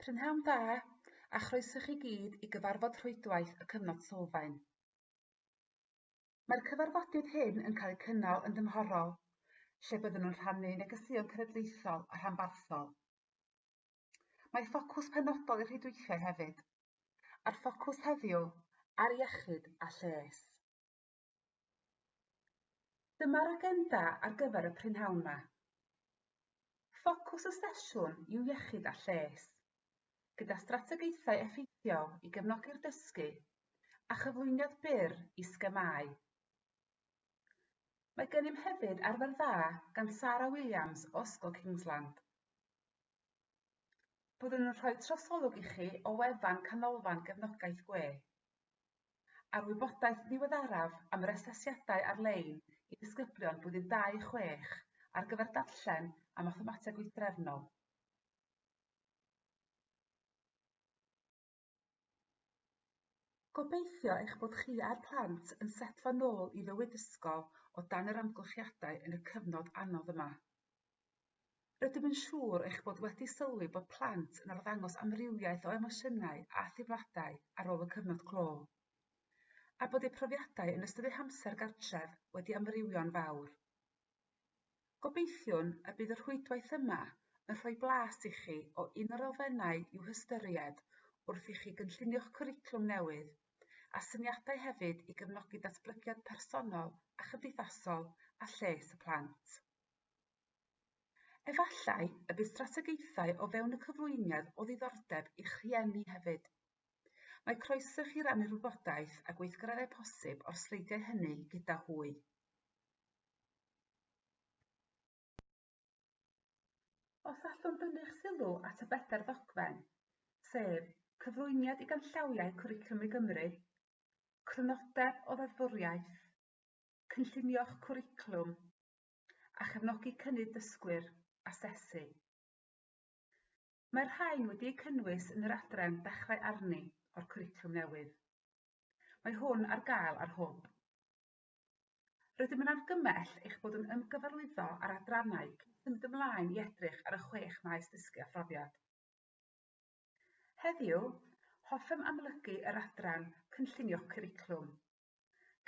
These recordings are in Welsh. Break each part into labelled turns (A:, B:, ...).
A: Prynhawn da, a chroeso chi gyd i gyfarfod rhwydwaith y Cyfnod Sylfaen. Mae'r cyfarfodydd hyn yn cael eu cynnal yn dymhorol, lle byddwn yn rhannu negeseuon cenedlaethol a rhanbarthol. Mae ffocws penodol i'r rhwydweithiau hefyd, a'r ffocws heddiw ar iechyd a lles. Dyma'r agenda ar gyfer y prynhawn 'ma. Ffocws y sesiwn yw iechyd a lles, gyda strategaethau effeithiol i gefnogi'r dysgu a chyflwyniad byr i sgemau. Mae gennym hefyd arfer dda gan Sarah Williams o Ysgol Kingsland. Byddwn yn rhoi trosolwg i chi o wefan Canolfan Gefnogaeth Gwe. a'r wybodaeth ddiweddaraf am yr asesiadau ar-lein i ddisgyblion Blwyddyn 26 ar gyfer Darllen a Mathemateg Wythdrefnol. Gobeithio eich bod chi a'r plant yn setlo nôl i fywyd ysgol o dan yr amgylchiadau yn y cyfnod anodd yma. Rydym yn siŵr eich bod wedi sylwi bod plant yn arddangos amrywiaeth o emosiynau a theimladau ar ôl y cyfnod clo, a bod eu profiadau yn ystod eu hamser gartref wedi amrywio'n fawr. Gobeithiwn y bydd y rhwydwaith yma yn rhoi blas i chi o un o'r elfennau i'w hystyried wrth i chi gynllunio'ch cwricwlwm newydd, a syniadau hefyd i gefnogi datblygiad personol a chymdeithasol a lles y plant. Efallai y bydd strategaethau o fewn y cyflwyniad o ddiddordeb i'ch rhieni hefyd. Mae croeso i chi rannu'r wybodaeth a gweithgareddau posib o'r sleidiau hynny gyda hwy. Os allwn dynnu'ch sylw at y bedair ddogfen, sef, cyflwyniad i ganllawiau Cwricwlwm i Gymru, crynodeb o ddeddfwriaeth, cynllunio'ch cwricwlwm, a chefnogi cynnydd dysgwyr, asesu. Mae'r rhain wedi'u cynnwys yn yr adran Dechrau Arni o'r cwricwlwm newydd. Mae hwn ar gael ar hwb. Rydym yn argymell eich bod yn ymgyfarwyddo â'r adrannau cyn symud ymlaen i edrych ar y chwech maes dysgu a phrofiad. Heddiw, hoffem amlygu yr adran Cynllunio Cwricwlwm,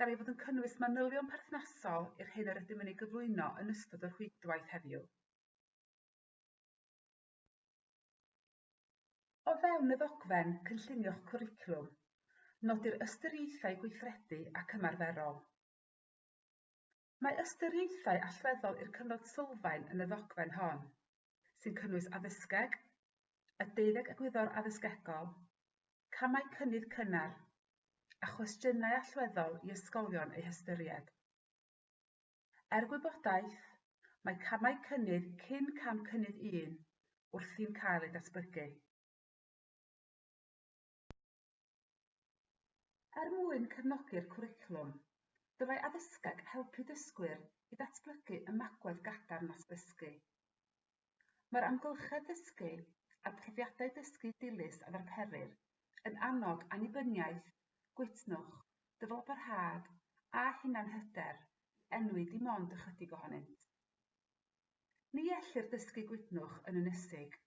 A: gan ei fod yn cynnwys manylion perthnasol i'r hyn yr ydym yn ei gyflwyno yn ystod y rhwydwaith heddiw. O fewn y ddogfen Cynllunio'ch Cwricwlwm, nodir ystyriaethau gweithredu ac ymarferol. Mae ystyriaethau allweddol i'r cyfnod sylfaen yn y ddogfen hon, sy'n cynnwys addysgeg, y deuddeg egwyddor addysgegol, camau cynnydd cynnar, a chwestiynau allweddol i ysgolion eu hystyried. Er gwybodaeth, mae camau cynnydd cyn cam cynnydd un wrthi'n cael eu datblygu. Er mwyn cefnogi'r cwricwlwm, dylai addysgeg helpu dysgwyr i ddatblygu ymagwedd gadarn at ddysgu. Mae'r amgylchedd ddysgu a phrofiadau dysgu dilys a ddarperir yn annog annibyniaeth, gwytnwch, dyfalbarhad a hunanhyder i enwi dim ond ychydig ohonynt. Ni ellir dysgu gwydnwch yn ynysig.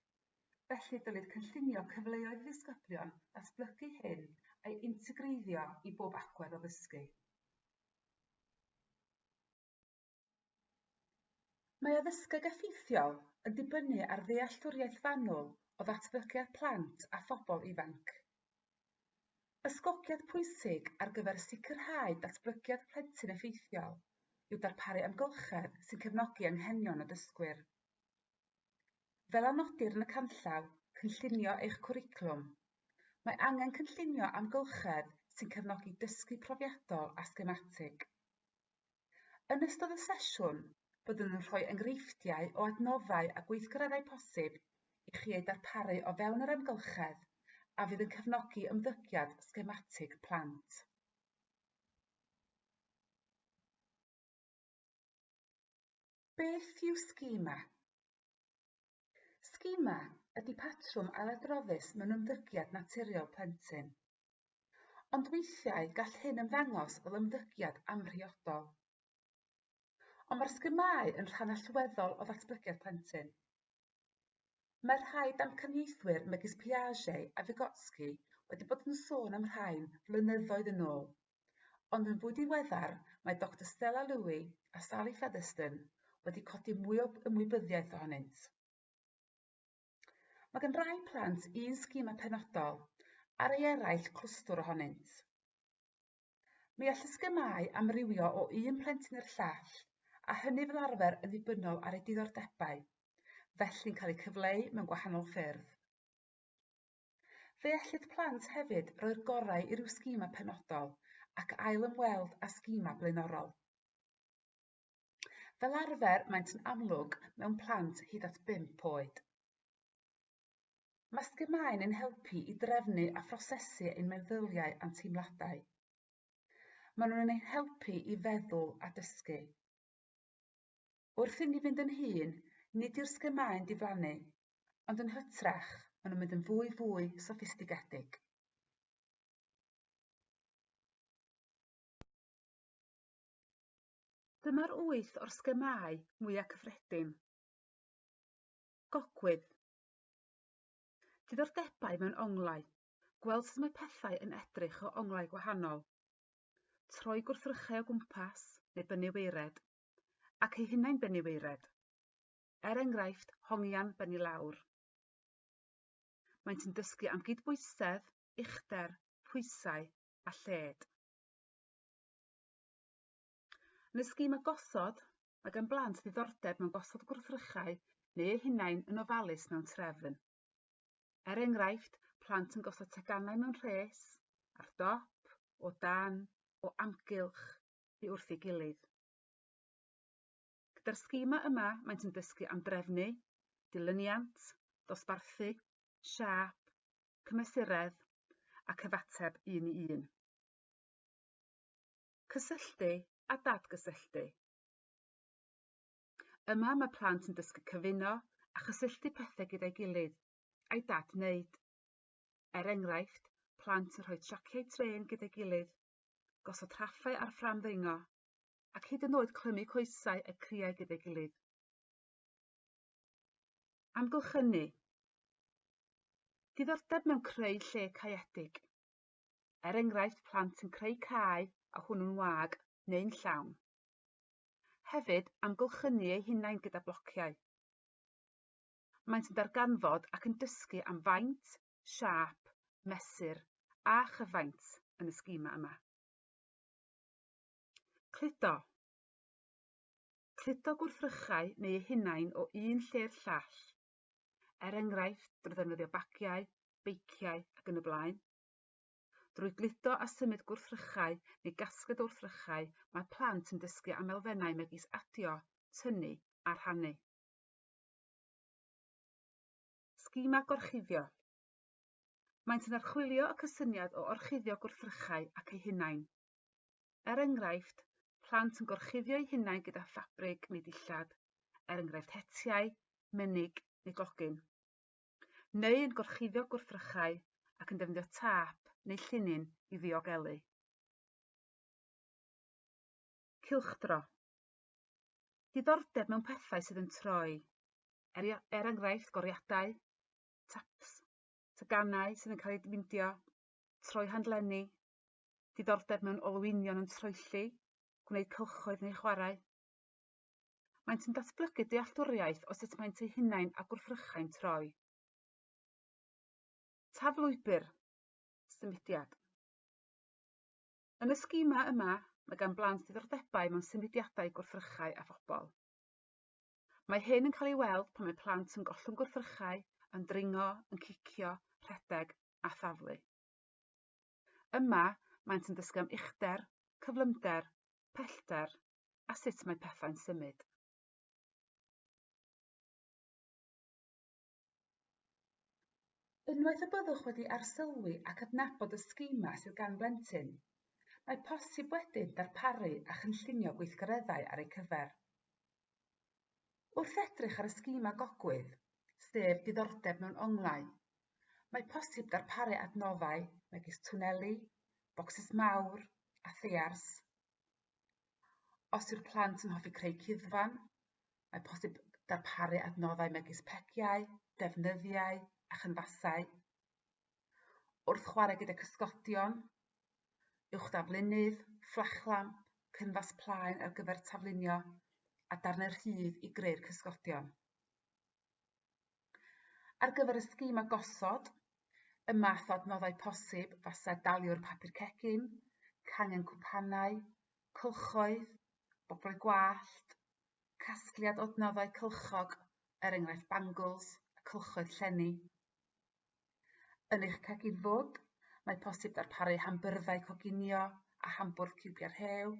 A: Felly dylid cynllunio cyfleoedd i ddisgyblion ddatblygu hyn a'i integreiddio i bob agwedd o ddysgu. Mae addysgeg effeithiol yn dibynnu ar ddealltwriaeth fanwl o ddatblygiad plant a phobl ifanc. Ysgogiad pwysig ar gyfer sicrhau datblygiad plentyn effeithiol yw darparu amgylchedd sy'n cefnogi anghenion y dysgwyr. Fel a nodir yn y canllaw, Cynllunio eich cwricwlwm, mae angen cynllunio amgylchedd sy'n cefnogi dysgu profiadol a sgematig. Yn ystod y sesiwn, byddwn yn rhoi enghreifftiau o adnoddau a gweithgareddau posib i chi eu darparu o fewn yr amgylchedd a fydd yn cefnogi ymddygiad sgematig plant. Beth yw schema? Schema ydy patrwm ailadroddus mewn ymddygiad naturiol plentyn. Ond weithiau gall hyn ymddangos fel ymddygiad amhriodol. Ond mae'r sgymau yn rhan allweddol o ddatblygiad plentyn. Mae rhai damcaniaethwyr megis Piaget a Vygotsky wedi bod yn sôn am rhain flynyddoedd yn ôl, ond yn fwy diweddar mae Doctor Stella Lewy a Sally Featherston wedi codi mwy o ymwybyddiaeth ohonynt. Mae gan rai plant un sgima penodol, ar ei eraill clwstwr ohonynt. Mi all y sgymau amrywio o un plentyn i'r llall, a hynny fel arfer yn ddibynnol ar ei diddordebau, felly'n cael eu cyfleu mewn gwahanol ffyrdd. Fe ellid plant hefyd roi'r gorau i ryw sgima penodol ac ail-ymweld â sgima blaenorol. Fel arfer, maent yn amlwg mewn plant hyd at 5 oed. Mae sgymau yn helpu i drefnu a phrosesu ein meddyliau a'n teimladau. Maen nhw'n ein helpu i feddwl a dysgu. Wrth inni fynd yn hun, nid yw'r sgymau'n diflannu, ond yn hytrach, maen nhw'n mynd yn fwy fwy soffistigedig. Dyma'r wyth o'r sgemâu mwyaf cyffredin. Gogwydd. Diddordebau mewn onglau. Gweld sut mae pethau yn edrych o onglau gwahanol. Troi gwrthrychau o gwmpas neu bennu weired. Ac eu hunain bennu weired. Er enghraifft, hongian bennu lawr. Maent yn dysgu am gydbwysedd, uchder, pwysau a lled. Yn y sgîm a gosod, mae gan blant ddiddordeb mewn gosod gwrthrychau neu eu hunain yn ofalus mewn trefn. Er enghraifft, plant yn gosod teganau mewn rhes, ar dop, o dan, o amgylch, i wrth ei gilydd. Gyda'r sgima yma, maent yn dysgu am drefnu, dilyniant, dosbarthu, siap, cymesuredd a cyfateb un i un. Cysylltu a dadgysylltu. Yma mae plant yn dysgu cyfuno a chysylltu pethau gyda'i gilydd, a'i dad wneud. Er enghraifft, plant yn rhoi traciau trên gyda'i gilydd, gosod rhaffau ar ffram ddringo, ac hyd yn oed clymu coesau y criau gyda'i gilydd. Amgylchynu. Diddordeb mewn creu lle caeedig. er enghraifft plant yn creu cae a hwnnw'n wag neu'n llawn. Hefyd, amgylchynu eu hunain gyda blociau. Maent yn darganfod ac yn dysgu am faint, siâp, mesur a chyfaint yn y sgima yma. Cludo. Cludo gwrthrychau neu eu hunain o un lle'r llall er enghraifft drwy ddefnyddio bagiau, beiciau ac yn y blaen. Drwy gludo a symud gwrthrychau neu gasgliad o wrthrychau, mae plant yn dysgu am elfennau megis adio, tynnu a rhannu. Sgimau gorchuddio Maent yn archwilio y cysyniad o orchuddio gwrthrychau ac eu hunain. Er enghraifft, plant yn gorchuddio'u hunain gyda ffabrig neu dillad, er enghraifft hetiau, menig neu glogyn. Neu yn gorchuddio gwrthrychau ac yn defnyddio tâp neu llinyn i ddiogelu. Cylchdro. Diddordeb mewn pethau sydd yn troi, er, er enghraifft goriadau, taps, teganau sydd yn cael eu dimindio, troi handlenni, diddordeb mewn olwynion yn troelli, gwneud cylchoedd neu chwarae. Maent yn datblygu dealltwriaeth o sut maent eu hunain a gwrthrychau'n troi. Taf lwybr, symudiad. Yn y sgima yma, mae gan blant ddiddordebau mewn symudiadau gwrthrychau a phobl. Mae hyn yn cael ei weld pan mae plant yn gollwng gwrthrychau, yn dringo, yn cicio, rhedeg a thaflu. Yma, maent yn dysgu am uchder, cyflymder, pellter a sut mae pethau'n symud. Unwaith y byddwch wedi arsylwi ac adnabod y sgimau sydd gan blentyn, mae posib wedyn darparu a chynllunio gweithgareddau ar eu cyfer. Wrth edrych ar y sgîm agogwydd, sef diddordeb mewn onglau, mae posib darparu adnoddau megis twneli, bocsys mawr a theiars. Os yw'r plant yn hoffi creu cuddfan, mae posib darparu adnoddau megis pegiau, defnyddiau a chynfasau. wrth chwarae gyda cysgodion, uwch daflunydd, fflachlamp, cynfas plaen ar gyfer taflunio a darnau rhydd i greu'r cysgodion. Ar gyfer y sgîm a gosod, y math o adnoddau posib fase daliwr papur cegin, cangen cwpanau, cylchoedd, boblau gwallt, casgliad o adnoddau cylchog, er enghraifft bangles a cylchoedd llenni. Yn eich cegin fwd, mae posib darparu hambyrddau coginio a hambwrdd ciwbiau rhew,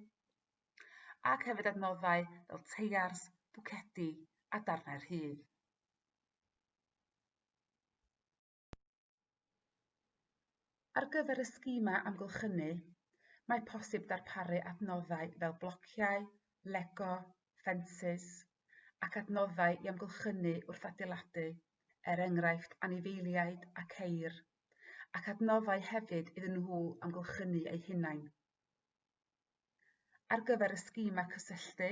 A: ac hefyd adnoddau fel teiars, bwcedi a darnau rhydd. Ar gyfer y sgimau amgylchynu, mae posib darparu adnoddau fel blociau, lego, ffensys, ac adnoddau i amgylchynu wrth adeiladu, er enghraifft anifeiliaid a ceir, ac adnoddau hefyd iddyn nhw amgylchynu eu hunain. Ar gyfer y sgimau cysylltu,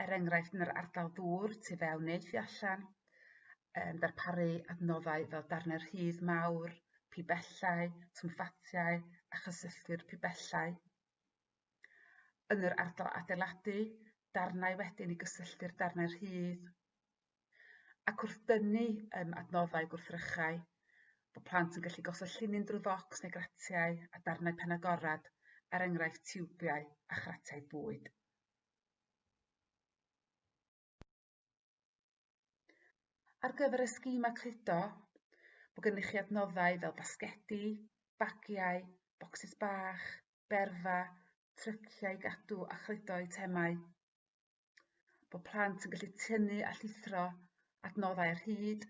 A: er enghraifft yn yr ardal ddŵr tu fewn neu tu allan, um, darparu adnoddau fel darnau rhydd mawr, pibellau, twmffatiau a chysylltu'r pibellau. yn yr ardal adeiladu, darnau wedyn i gysylltu'r darnau rhydd, ac wrth dynnu um, adnoddau gwrthrychau, bod plant yn gallu gosod llinyn drwy focs neu gratiau a darnau pen agorad, er enghraifft tiwbiau a chratiau bwyd. Ar gyfer y schema cludo, mae gennych chi adnoddau fel basgedi, bagiau, bocsys bach, berfa, tryciau gadw a chludo eitemau. Bod plant yn gallu tynnu a llithro adnoddau ar hyd,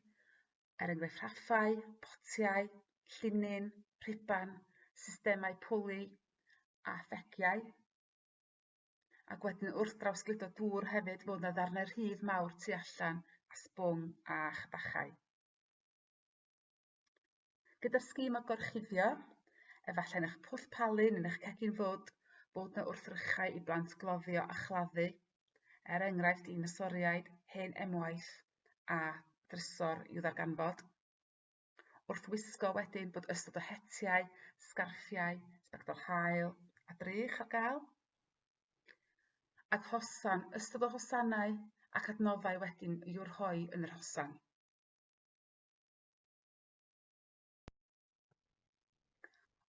A: er enghraifft rhaffau, potiau, llinyn, rhuban, systemau pwli a thegiau. Ac wedyn wrth drawsgludo dŵr hefyd fod 'na ddarnau rhydd mawr tu allan a sbwng a chbachau. Gyda'r sgîm o gorchuddio, efallai'n eich pwll palu neu'n eich cegin fod bod 'na wrthrychau i blant gloddio a chladdu, er enghraifft i nosoriaid, hen emwaith a drysor i'w ddarganfod. wrth wisgo wedyn bod ystod o hetiau, sgarffiau, sbectol haul a drych ar gael, ac hosan, ystod o hosanau ac adnoddau wedyn i'w rhoi yn yr hosan.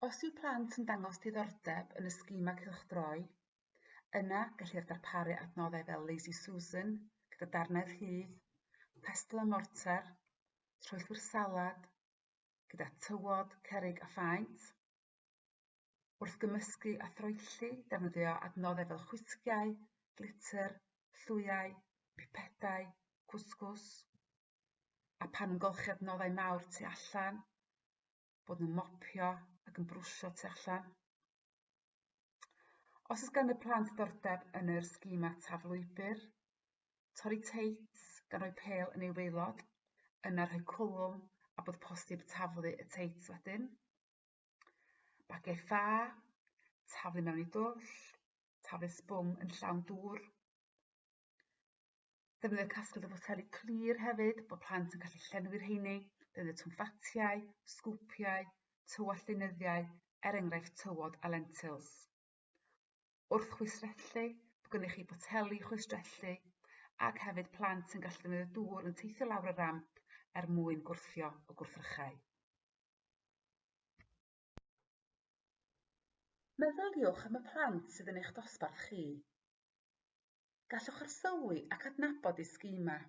A: Os yw plant yn dangos diddordeb yn y sgima cylchdroi, yna gellir darparu adnoddau fel Lazy Susan gyda darnau rhydd, pestle a mortar, strwythur salad gyda tywod, cerrig a phaent. Wrth gymysgu a throelli, defnyddio adnoddau fel chwisgiau, glitter, llwyau, pipedau, cwsgwrs, a pan yn golchi adnoddau mawr tu allan, bod nhw'n mopio ac yn brwsio tu allan. Os oes gan y plant ddordeb yn yr sgima taflwybr, torri teits gan roi pel yn ei waelod, yna rhoi cwlwm a bod posib taflu y teits wedyn. Bagiau ffa, taflu mewn i dwll, taflu sbwng yn llawn dŵr. Defnyddio casglu o foteli clir hefyd, bod plant yn gallu llenwi'r heini, defnyddio twmffatiau, sgwpiau, tywallt deunyddiau, er enghraifft tywod a lentils. Wrth chwistrellu, bod gennych chi boteli chwistrellu, ac hefyd plant yn gallu defnyddio dŵr yn teithio lawr y ramp er mwyn gwrthio o gwrthrychau. Meddyliwch am y plant sydd yn eich dosbarth chi. Gallwch arsylwi ac adnabod eu sgemau.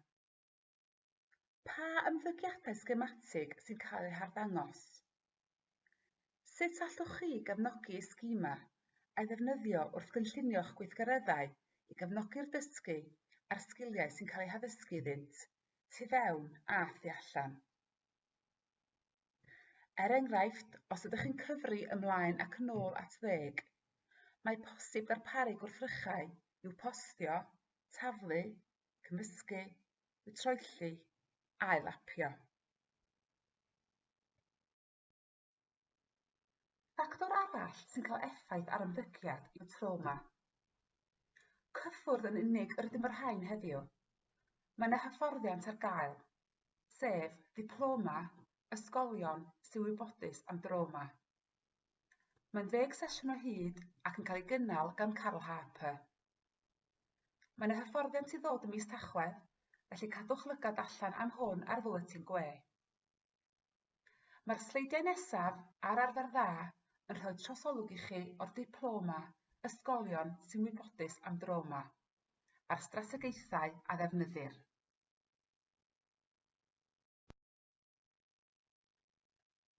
A: Pa ymddygiadau sgematig sy'n cael eu harddangos? Sut allwch chi gefnogi eu sgemau a'i ddefnyddio wrth gynllunio'ch gweithgareddau i gefnogi'r dysgu a'r sgiliau sy'n cael eu haddysgu iddynt, tu fewn a thu allan? Er enghraifft, os ydych yn cyfri ymlaen ac yn ôl at ddeg, mae posib darparu gwrthrychau i'w postio, taflu, cymysgu, i'w troelli a'i lapio. Ffactor arall sy'n cael effaith ar ymddygiad yw trawma. Cyffwrdd yn unig yr ydym o'r rhain heddiw. Mae yna hyfforddiant ar gael, sef Diploma Ysgolion sy'n Wybodus am Drawma. Mae'n ddeg sesiwn o hyd ac yn cael ei gynnal gan Carl Harper. Mae yna hyfforddiant i ddod ym mis Tachwedd, felly cadwch lygad allan am hwn ar Fwletin Gwe. Mae'r sleidiau nesaf ar arfer dda yn rhoi trosolwg i chi o'r diploma Ysgolion sy'n wybodus am drawma a'r strategaethau a ddefnyddir.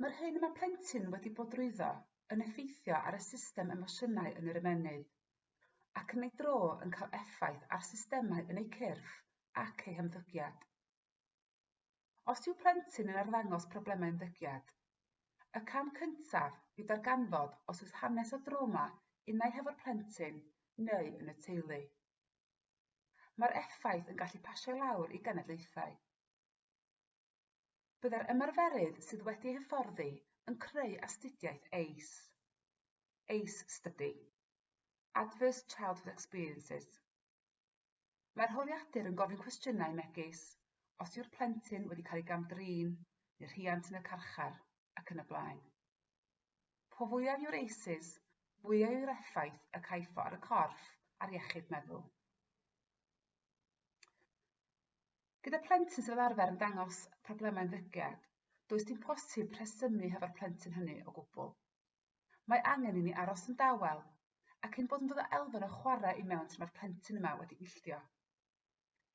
A: Mae'r hyn y mae plentyn wedi bod drwyddo yn effeithio ar y system emosiynau yn yr ymennydd, ac yn ei dro yn cael effaith ar systemau yn eu cyrff ac eu hymddygiad. Os yw plentyn yn arddangos problemau ymddygiad, y cam cyntaf yw darganfod os oes hanes o drawma unai hefo'r plentyn neu yn y teulu. Mae'r effaith yn gallu pasio lawr i genedlaethau. Byddai'r ymarferydd sydd wedi hyfforddi yn creu astudiaeth ACE, ACE Study, Adverse Childhood Experiences. Mae'r holiadur yn gofyn cwestiynau megis os yw'r plentyn wedi cael ei gam-drin, neu'r rhiant yn y carchar, ac yn y blaen. Po fwyaf yw'r eises, fwyaf yw'r effaith y caifo ar y corff a'r iechyd meddwl. Gyda plentyn sydd fel arfer yn dangos problemau ymddygiad, does dim posib rhesymu hefo'r plentyn hynny o gwbl. Mae angen i ni aros yn dawel, ac ein bod yn dod o elfen o chwarae i mewn tra mae'r plentyn yma wedi illdio.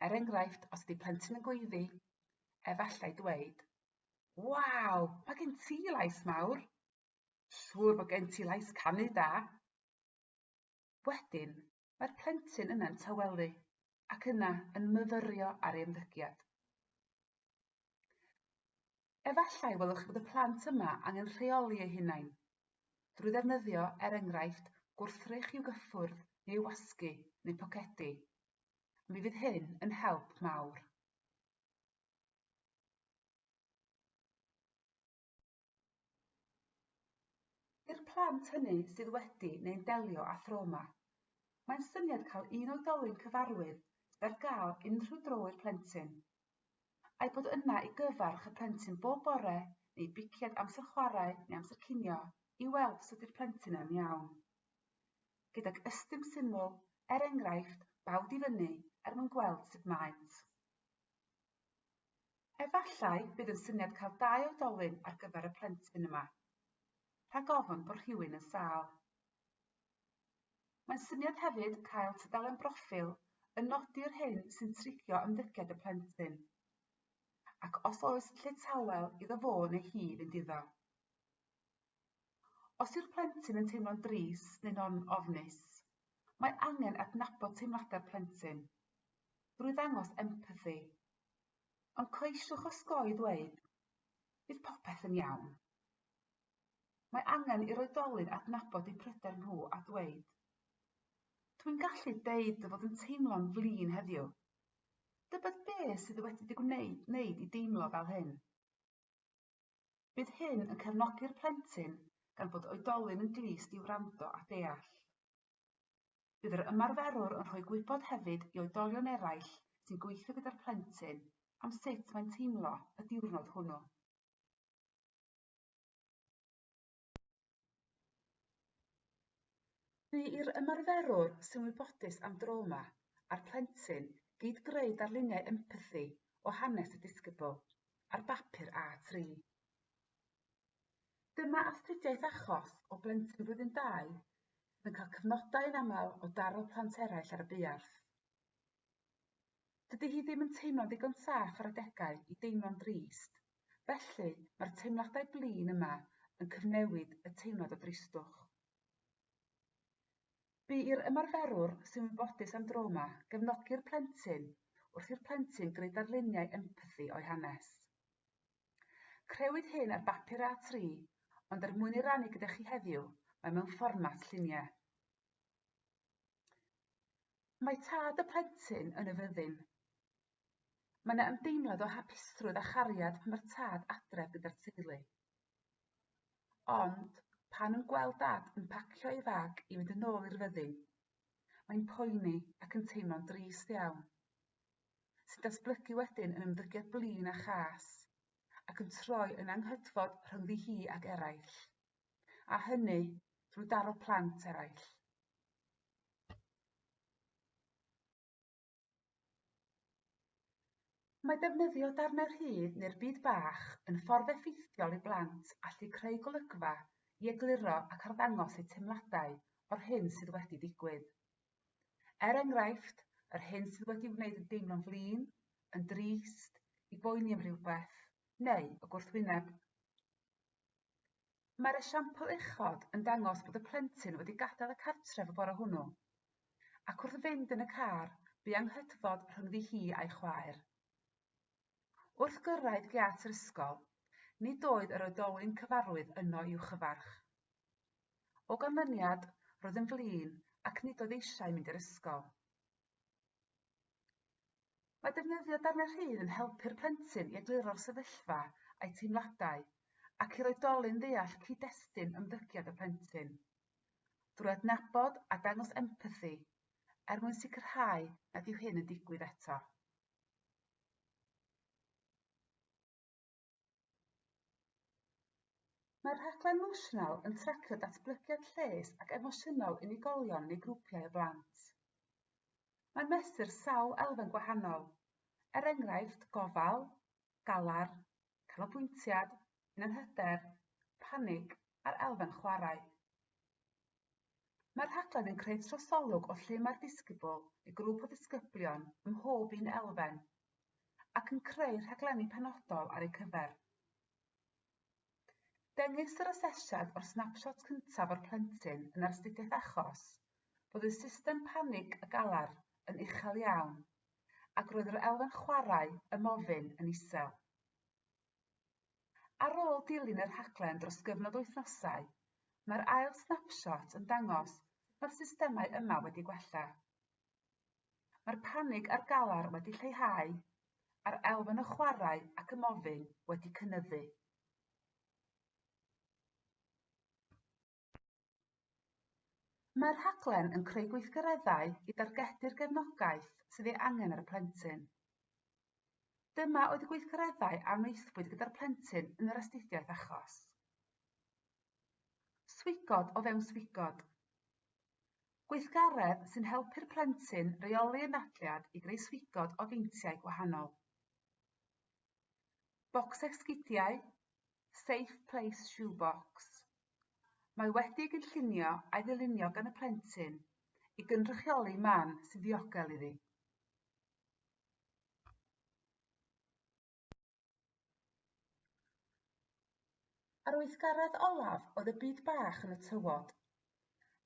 A: Er enghraifft, os ydy plentyn yn gweiddi, efallai dweud, Waw, mae gen ti lais mawr! Siŵr bod gen ti lais canu da! Wedyn, mae'r plentyn yna'n tawelu ac yna yn myfyrio ar ei ymddygiad. Efallai welwch chi bod y plant yma angen rheoli eu hunain, drwy ddefnyddio, er enghraifft, gwrthrych i'w gyffwrdd neu i'w wasgu, neu pocedi. A mi fydd hyn yn help mawr. I'r plant hynny sydd wedi neu'n delio â thrawma, mae'n syniad cael un oedolyn cyfarwydd sydd ar gael unrhyw dro i'r plentyn a'i bod yna i gyfarch y plentyn bob bore neu biciad amser chwarae neu amser cinio i weld os ydy'r plentyn yn iawn. Gydag ystum syml, er enghraifft, bawd i fyny er mwyn gweld sut maent. Efallai bydd yn syniad cael dau oedolyn ar gyfer y plentyn yma, rhag ofn bod rhywun yn sâl. Mae'n syniad hefyd cael tudalen broffil yn nodi'r hyn sy'n trigio ymddygiad y plentyn, ac os oes lle tawel iddo fo neu hi fynd iddo. Os yw'r plentyn yn teimlo'n dris neu'n on ofnus, mae angen adnabod teimladau'r plentyn drwy ddangos empathi, ond coesiwch osgoi ddweud, bydd popeth yn iawn. Mae angen i'r oedolyn adnabod eu pryder nhw a dweud, Dwi'n gallu deud dy fod yn teimlo'n flin heddiw. Dybed be sydd wedi dy gwneud wneud i deimlo fel hyn? Bydd hyn yn cefnogi'r plentyn gan bod oedolyn yn glust i wrando a deall. Bydd yr ymarferwr yn rhoi gwybod hefyd i oedolion eraill sy'n gweithio gyda'r plentyn am sut mae'n teimlo y diwrnod hwnnw. Bu i'r ymarferwr sy'n wybodus am drawma a'r plentyn gyd-greu darluniau empathi o hanes y disgybl ar bapur A3. Dyma astudiaeth achos o blentyn blwyddyn dau sydd yn cael cyfnodau yn aml o daro plant eraill ar y buarth. Dydy hi ddim yn teimlo'n ddigon saff ar adegau i deimlo'n drist, felly mae'r teimladau blin yma yn cyfnewid y teimlad o dristwch. Bu i'r ymarferwr sy'n wybodus am drawma gefnogi'r plentyn wrth i'r plentyn greu darluniau empathi o'i hanes. Crewyd hyn ar bapur A3, ond er mwyn ei rannu gyda chi heddiw, mae mewn fformat lluniau. Mae tad y plentyn yn y fyddin. Mae yna ymdeimlad o hapusrwydd a chariad pan mae'r tad adref gyda'r teulu. Ond pan nhw'n gweld dad yn pacio ei fag i fynd yn ôl i'r fyddin, mae'n poeni ac yn teimlo'n drist iawn, sy'n datblygu wedyn yn ymddygiad blin a chas, ac yn troi yn anghydfod rhyngddi hi ac eraill. a hynny drwy daro plant eraill. Mae defnyddio darnau rhydd neu'r byd bach yn ffordd effeithiol i blant allu creu golygfa i egluro ac arddangos eu teimladau o'r hyn sydd wedi digwydd. Er enghraifft, yr hyn sydd wedi wneud yn deimlo'n flin, yn drist, i boeni am rhywbeth, neu y gwrthwyneb. Mae'r esiampl uchod yn dangos bod y plentyn wedi gadael y cartref y bore hwnnw, ac wrth fynd yn y car, bu anghydfod rhyngddi hi a'i chwaer. Wrth gyrraedd giât yr ysgol, nid oedd yr oedolyn cyfarwydd yno i'w chyfarch. O ganlyniad, roedd yn flin ac nid oedd eisiau mynd i'r ysgol. Mae defnyddio darnau rhydd yn helpu'r plentyn i egluro'r sefyllfa a'i teimladau ac i'r oedolyn ddeall cyd-destun ymddygiad y plentyn, drwy adnabod a dangos empathi, er mwyn sicrhau nad yw hyn yn digwydd eto. Mae'r rhaglen Notional yn tracio datblygiad lles ac emosiynol unigolion neu grwpiau o blant. Mae'n mesur sawl elfen gwahanol, er enghraifft gofal, galar, canolbwyntiad, hunanhyder, panig a'r elfen chwarae. Mae'r rhaglen yn creu trosolwg o lle mae'r ddisgybl i grŵp o ddisgyblion ym mhob un elfen ac yn creu rhaglenni penodol ar eu cyfer. Dengys yr asesiad o'r snapshot cyntaf o'r plentyn yn astudiaeth achos fod ei system panig a galar yn uchel iawn ac roedd yr elfen chwarae ymofyn yn isel. Ar ôl dilyn y rhaglen dros gyfnod o wythnosau, mae'r ail snapshot yn dangos mae'r systemau yma wedi gwella. Mae'r panig a'r galar wedi lleihau, a'r elfen o chwarae ac ymofyn wedi cynyddu. Mae'r rhaglen yn creu gweithgareddau i dargedu'r gefnogaeth sydd ei angen ar y plentyn. Dyma oedd y gweithgareddau a wnaethpwyd gyda'r plentyn yn yr astudiaeth achos. Swigod o fewn swigod. Gweithgaredd sy'n helpu'r plentyn reoli anadliad i greu swigod o feintiau gwahanol. Bocs esgidiau, Safe Place Shoe Box. Mae wedi ei gynllunio a'i ddylunio gan y plentyn i gynrychioli man sy'n ddiogel iddi. Ar weithgaredd olaf oedd y byd bach yn y tywod,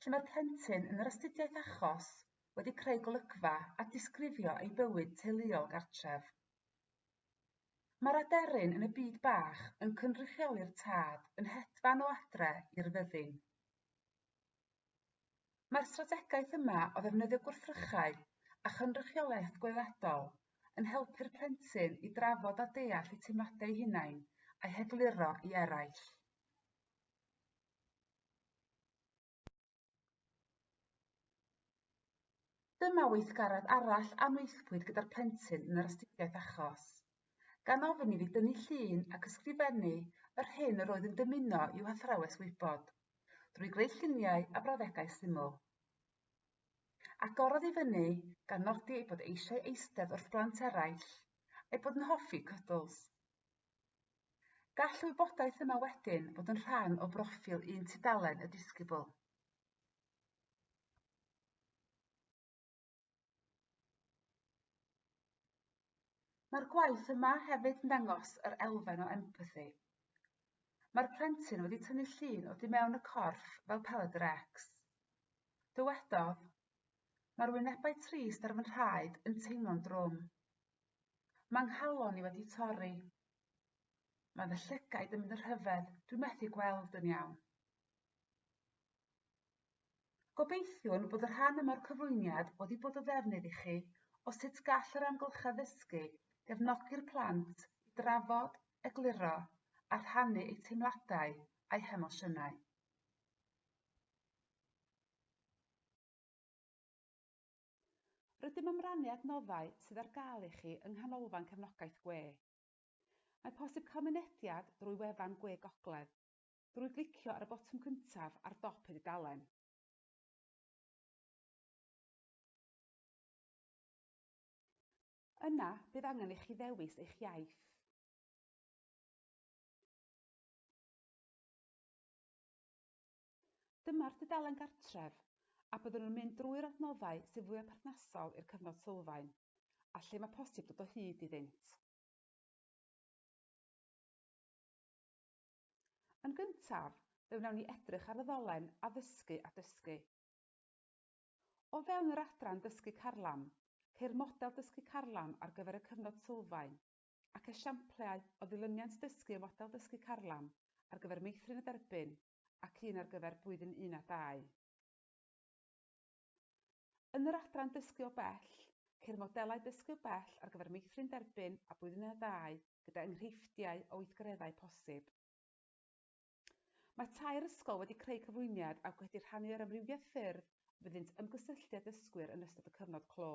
A: lle mae'r plentyn yn yr astudiaeth achos wedi creu golygfa a disgrifio ei bywyd teuluol gartref. Mae'r aderyn yn y byd bach yn cynrychioli'r tad yn hedfan o adre i'r fyddin. Mae'r strategaeth yma o ddefnyddio gwrthrychau a chynrychiolaeth gweledol yn helpu'r plentyn i drafod a deall eu teimladau eu hunain a'u hegluro i eraill. Dyma weithgaredd arall a wnaethpwyd gyda'r plentyn yn yr astudiaeth achos. Gan ofyn i fi dynnu llun ac ysgrifennu yr hyn yr oedd yn dymuno i'w hathrawes wybod, drwy greu lluniau a brawddegau syml. Agorodd i fyny, gan nodi ei bod eisiau eistedd wrth blant eraill, a'i bod yn hoffi cwdls. Gall y wybodaeth yma wedyn fod yn rhan o broffil un tudalen y disgybl. Mae'r gwaith yma hefyd yn dangos yr elfen o empathi. Mae'r plentyn wedi tynnu llun o di mewn y corff fel peled yr ex. Dywedodd, Mae'r wynebau trist ar fy nhraed yn teimlo'n drwm. Mae nghalon i wedi torri. Mae fy llygaid yn mynd y rhyfedd, dwi'n methu gweld yn iawn. Gobeithiwn bod y rhan yma o'r cyflwyniad wedi bod o ddefnydd i chi o sut gall yr amgylchedd ddysgu gefnogi'r plant i drafod, egluro a rhannu eu teimladau a'u hemosiynau. Rydym am rannu adnoddau sydd ar gael i chi yng Nghanolfan Cefnogaeth Gwe. Mae posib cael mynediad drwy wefan Gwe Gogledd, drwy glicio ar y botwm cyntaf ar dop y dudalen. Yna, bydd angen i chi ddewis eich iaith. Dyma'r dudalen gartref, a byddwn yn mynd drwy'r adnoddau sydd fwyaf perthnasol i'r cyfnod sylfaen, a lle mae posib dod o hyd iddynt. Yn gyntaf, fe wnawn ni edrych ar y ddolen Addysgu a Dysgu. O fewn yr adran Dysgu Carlam, ceir model dysgu carlam ar gyfer y cyfnod sylfaen, ac esiamplau o ddilyniant dysgu y model dysgu carlam ar gyfer meithrin y derbyn ac un ar gyfer Blwyddyn Un a Dau. Yn yr adran Dysgu o Bell, ceir modelau dysgu o bell ar gyfer Meithrin Derbyn a Blwyddyn Un a Dau gyda enghreifftiau o weithgareddau posib. Mae tair ysgol wedi creu cyflwyniad ac wedi rhannu yr amrywiaeth ffyrdd fyddynt ymgysylltu â dysgwyr yn ystod y cyfnod clo.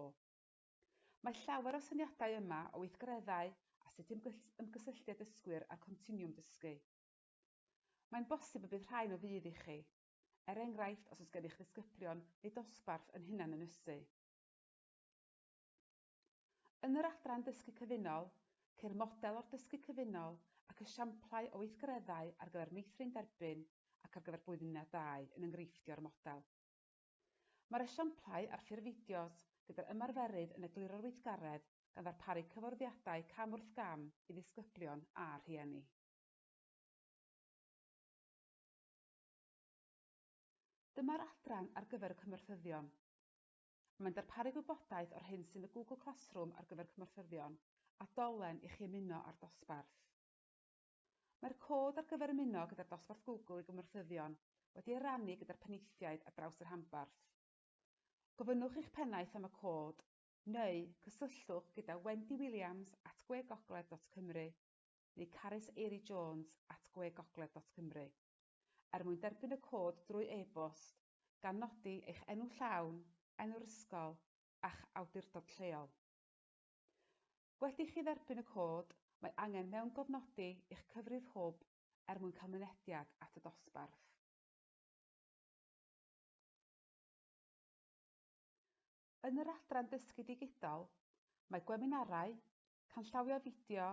A: Mae llawer o syniadau yma o weithgareddau a sut i ymgysylltu â dysgwyr a'r continwwm dysgu. Mae'n bosib y bydd rhain o fudd i chi, er enghraifft os oes gennych ddisgyblion neu dosbarth yn hunanynysu. Yn yr adran Dysgu Cyfunol, ceir model o'r Dysgu Cyfunol ac esiamplau o weithgareddau ar gyfer meithrin derbyn ac ar gyfer blwyddyn un a dau yn enghreiffftio'r model. Mae'r esiamplau ar ffurf fideos gyda'r ymarferydd yn egluro'r weithgaredd gan ddarparu cyfarwyddiadau cam wrth gam i ddisgyblion a rhieni. Dyma'r adran ar gyfer y cymorthyddion. Mae'n darparu gwybodaeth o'r hyn sy'n y Google Classroom ar gyfer cymorthyddion, a dolen i chi ymuno â'r dosbarth. Mae'r cod ar gyfer ymuno gyda'r dosbarth Google i gymorthyddion wedi ei rannu gyda'r penaethiaid ar draws y rhanbarth. Gofynnwch i'ch pennaeth am y cod, neu cysylltwch gyda Wendy Williams at gwegogledd.cymru neu Carys Eiri Jones at gwe gogledd dot cymru. Er mwyn derbyn y cod drwy e-bost, gan nodi eich enw llawn, enw'r ysgol, a'ch awdurdod lleol. Wedi i chi dderbyn y cod, mae angen mewngofnodi i'ch cyfrif hwb er mwyn cael mynediad at y dosbarth. Yn yr adran Dysgu Digidol, mae gweminarau, Canllawio a fideo,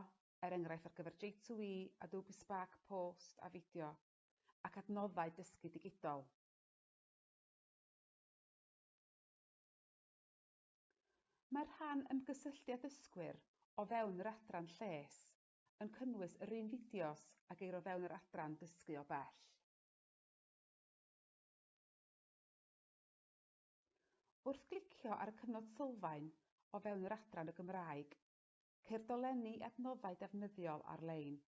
A: er enghraifft ar gyfer J2E, Adobe Spark Post a Fideo, ac adnoddau dysgu digidol. Mae'r rhan ymgysylltu â dysgwyr o fewn yr adran lles yn cynnwys yr un fideos a geir o fewn yr adran dysgu o bell. Wrth glicio ar y cyfnod sylfaen o fewn yr adran y Gymraeg, ceir dolenni i adnoddau defnyddiol ar-lein,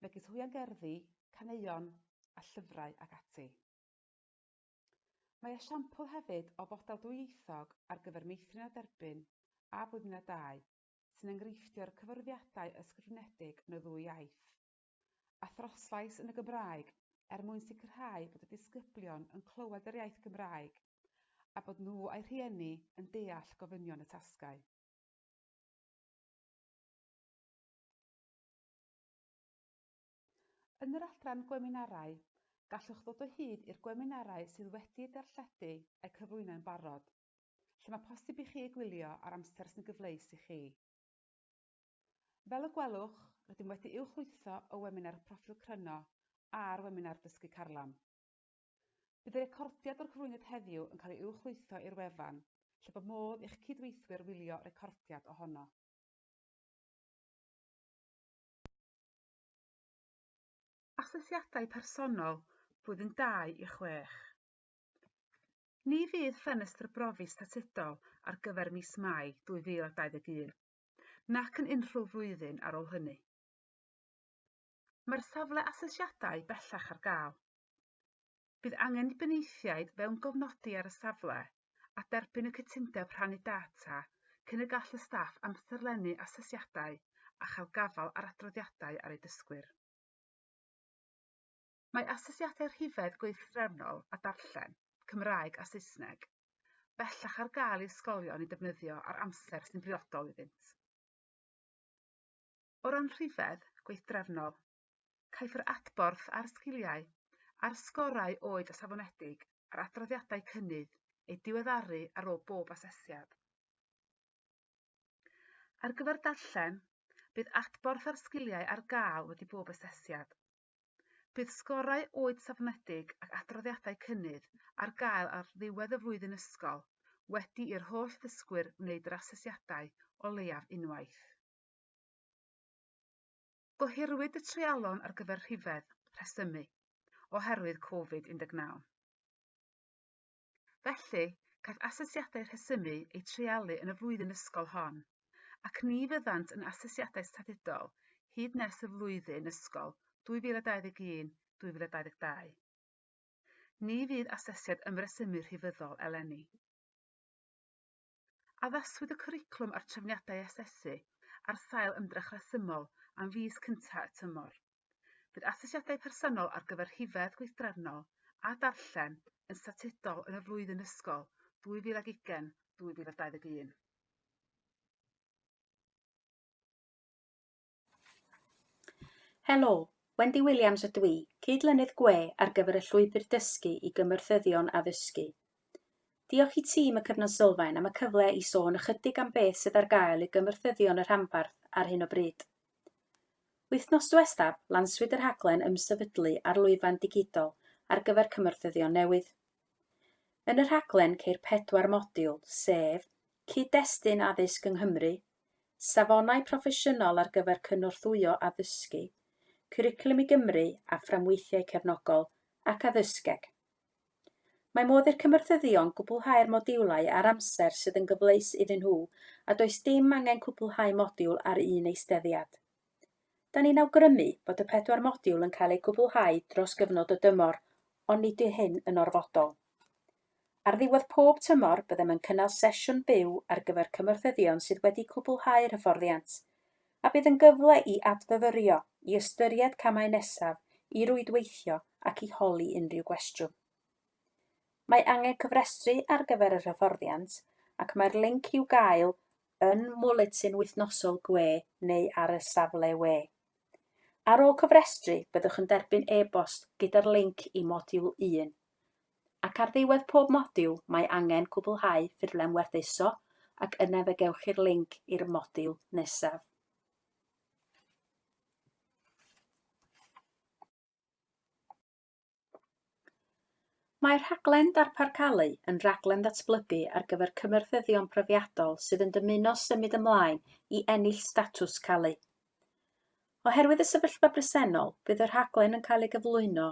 A: megis hwiangerddi, caneuon a llyfrau ac ati. Mae esiampl hefyd o fodel dwyieithog ar gyfer meithrin a derbyn a blwyddyn a dau sy'n enghreiffdio'r cyfarwyddiadau ysgrifenedig yn y ddwy iaith. a throslais yn y Gymraeg er mwyn sicrhau bod y disgyblion yn clywed yr iaith Gymraeg a bod nhw a'u rhieni yn deall gofynion y tasgau. Yn yr adran gweminarau, gallwch ddod o hyd i'r gweminarau sydd wedi'u darlledu a'u cyflwyno yn barod, lle mae posib i chi eu gwylio ar amser sy'n gyfleus i chi. Fel y gwelwch, rydym wedi'u chwytho o weminar Proffil Cryno a'r weminar Dysgu Carlam. Bydd y recordiad o'r cyflwyniad heddiw yn cael ei uwchlwytho i'r wefan, lle bod modd i'ch cydweithwyr wylio recordiad ohono. Asesiadau Personol Blwyddyn 2 i 6 Ni fydd ffenestr brofi statudol ar gyfer mis Mai 2021 nac yn unrhyw flwyddyn ar ôl hynny. Mae'r safle asesiadau bellach ar gael. Bydd angen i benaethiaid fewn gofnodi ar y safle a derbyn y cytundeb rhannu data cyn y gall y staff amserlennu asesiadau a chael gafael ar adroddiadau ar eu dysgwyr. Mae asesiadau rhifedd gweithdrefnol a darllen, Cymraeg a Saesneg, bellach ar gael i ysgolion eu defnyddio ar amser sy'n briodol iddynt. O ran rhifedd gweithdrefnol, caiff yr adborth ar sgiliau a'r sgorau oed a safonedig ar adroddiadau cynnydd eu diweddaru ar ôl bob asesiad. Ar gyfer darllen, bydd adborth ar sgiliau ar gael wedi bob asesiad, Bydd sgorau oed safonedig ac adroddiadau cynnydd ar gael ar ddiwedd y flwyddyn ysgol wedi i'r holl ddysgwyr wneud yr asesiadau o leiaf unwaith. Gohirwyd y treialon ar gyfer rhifedd, rhesymu, oherwydd Covid 19. Felly, caiff asesiadau rhesymu eu treialu yn y flwyddyn ysgol hon, ac ni fyddant yn asesiadau statudol hyd nes y flwyddyn ysgol 2021, 2022. Ni fydd asesiad ymresymu rhifyddol eleni. Addaswyd y cwricwlwm a'r trefniadau asesu ar sail ymdrech resymol am fis cyntaf y tymor. Bydd asesiadau personol ar gyfer rhifedd gweithdrefnol a darllen yn statudol yn y flwyddyn ysgol 2020, 2021.
B: Helo, Wendy Williams ydw i, Cyd-lynydd gwe ar gyfer y Llwybr Dysgu i Gymorthyddion Addysgu. Diolch i tîm y Cyfnod Sylfaen am y cyfle i sôn ychydig am beth sydd ar gael i gymorthyddion y rhanbarth ar hyn o bryd. Wythnos diwethaf, lanswyd y rhaglen ymsefydlu ar lwyfan digidol ar gyfer cymorthyddion newydd. Yn y rhaglen ceir pedwar modiwl, sef Cyd-destun Addysg yng Nghymru, safonau proffesiynol ar gyfer cynorthwyo addysgu, Cwricwlwm i Gymru a fframweithiau cefnogol ac addysgeg. Mae modd i'r cymorthyddion gwblhau'r modiwlau ar amser sydd yn gyfleus iddyn nhw a does dim angen cwblhau modiwl ar un eisteddiad. Da ni'n awgrymu bod y pedwar modiwl yn cael eu cwblhau dros gyfnod y dymor ond nid yw hyn yn orfodol. Ar ddiwedd pob tymor, byddem yn cynnal sesiwn byw ar gyfer cymorthyddion sydd wedi cwblhau'r hyfforddiant, a bydd yn gyfle i adfyfyrio, i ystyried camau nesaf, i rwydweithio ac i holi unrhyw gwestiwn. Mae angen cofrestru ar gyfer yr hyfforddiant ac mae'r linc i'w gael yn Mwletin Wythnosol gwe neu ar y safle we. Ar ôl cofrestru, byddwch yn derbyn e-bost gyda'r linc i Modiwl Un. ac ar ddiwedd pob modiwl mae angen cwblhau ffurflen werthuso ac yna fe gewch chi'r linc i'r modiwl nesaf. Mae rhaglen Darpar Calu yn raglen ddatblygu ar gyfer cymyrthyddion profiadol sydd yn dymuno symud ymlaen i ennill statws Calu. Oherwydd y sefyllfa bresennol, bydd y rhaglen yn cael ei gyflwyno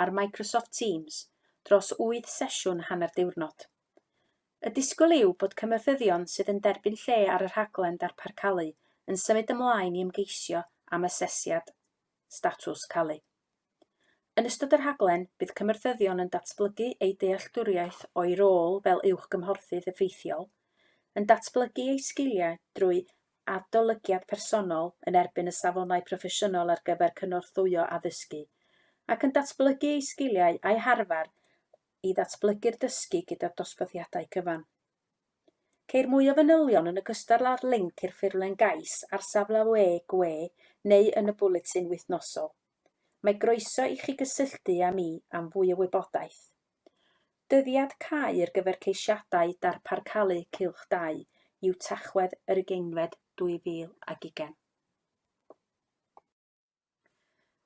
B: ar Microsoft Teams dros wyth sesiwn hanner diwrnod. Y disgwyl yw bod cynorthwyon sydd yn derbyn lle ar y rhaglen darpar calu yn symud ymlaen i ymgeisio am asesiad statws calu. Yn ystod y rhaglen, bydd cymorthyddion yn datblygu eu dealltwriaeth o'u rôl fel uwchgymhorthydd effeithiol, yn datblygu eu sgiliau drwy adolygiad personol yn erbyn y safonau proffesiynol ar gyfer cynorthwyo addysgu, ac yn datblygu eu sgiliau a'u harfer i ddatblygu'r dysgu gyda'r dosbarthiadau cyfan. Ceir mwy o fanylion yn ogystal â'r linc i'r ffurflen gais ar safle we gwe neu yn y bwletin wythnosol. Mae groeso i chi gysylltu â mi am fwy o wybodaeth. Dyddiad cau ar gyfer ceisiadau darparcalu Cylch Dau yw Tachwedd yr ugeinfed 2020.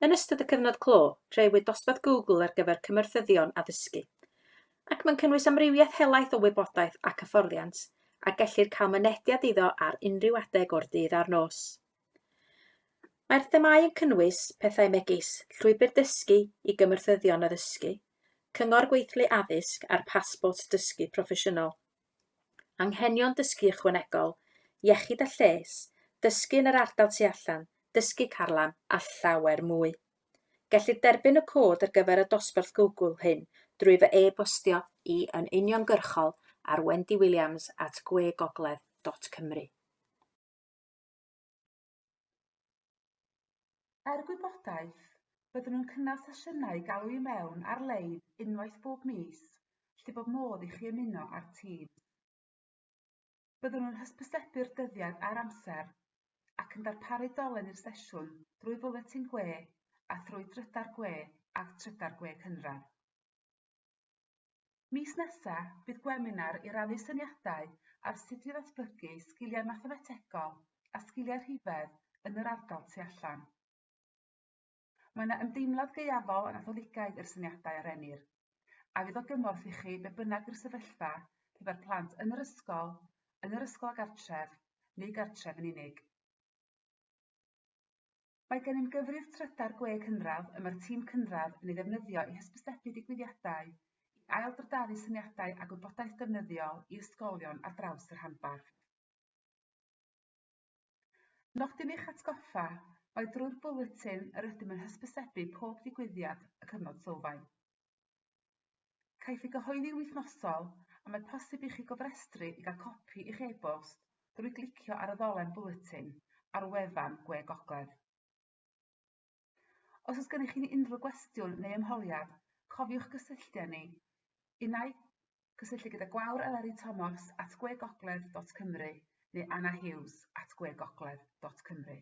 B: Yn ystod y cyfnod clo, rheiwyd dosbarth Google ar gyfer cymorthyddion addysgu, ac mae'n cynnwys amrywiaeth helaeth o wybodaeth ac hyfforddiant a gellir cael mynediad iddo ar unrhyw adeg o'r dydd a'r nos. Mae'r themâu yn cynnwys pethau megis llwybr dysgu i gymorthyddion addysgu, cyngor gweithlu addysg a'r pasbort dysgu proffesiynol. Anghenion dysgu ychwanegol, iechyd a lles, dysgu yn yr ardal tu allan, dysgu carlam, a llawer mwy. Gellir derbyn y cod ar gyfer y dosbarth Google hyn drwy fy e-bostio i yn uniongyrchol ar wendywilliams at gwegogledd.cymru.
A: Er gwybodaeth, byddwn yn cynnal sesiynau galw i mewn ar-lein unwaith bob mis lle bod modd i chi ymuno â'r tîm. Byddwn yn hysbysebu'r dyddiad a'r amser ac yn darparu dolen i'r sesiwn drwy Fwletin Gwe a thrwy Drydar Gwe a Trydar Gwe Cynradd. Mis nesa, bydd gweminar i rannu syniadau ar sut i ddatblygu sgiliau mathemategol a sgiliau rhifedd yn yr ardal tu allan. Mae yna ymdeimlad gaeafol a Natholigaidd i'r syniadau a rennir, a fydd o gymorth i chi be bynnag yw'r sefyllfa pe bai'r plant yn yr ysgol, yn yr ysgol a gartref, neu gartref yn unig. Mae gennym gyfrif trydar gwe cynradd y mae'r tîm cynradd yn ei ddefnyddio i hysbysebu digwyddiadau, i ail-drydaru syniadau a gwybodaeth defnyddiol i ysgolion ar draws y rhanbarth. Nodyn eich atgoffa, Mae drwy'r bwletin yr ydym yn hysbysebu pob digwyddiad y cyfnod sylfaen. Caiff ei gyhoeddi'n wythnosol, a mae posib i chi gofrestru i gael copi i'ch e-bost drwy glicio ar y ddolen Bwletin ar wefan Gwe Gogledd. Os oes gennych chi unrhyw gwestiwn neu ymholiad, cofiwch gysylltu â ni. Unai cysylltu gyda Gwawr Eleri Tomos at gwegogledd.cymru neu Anna Hughes at gwegogledd.cymru.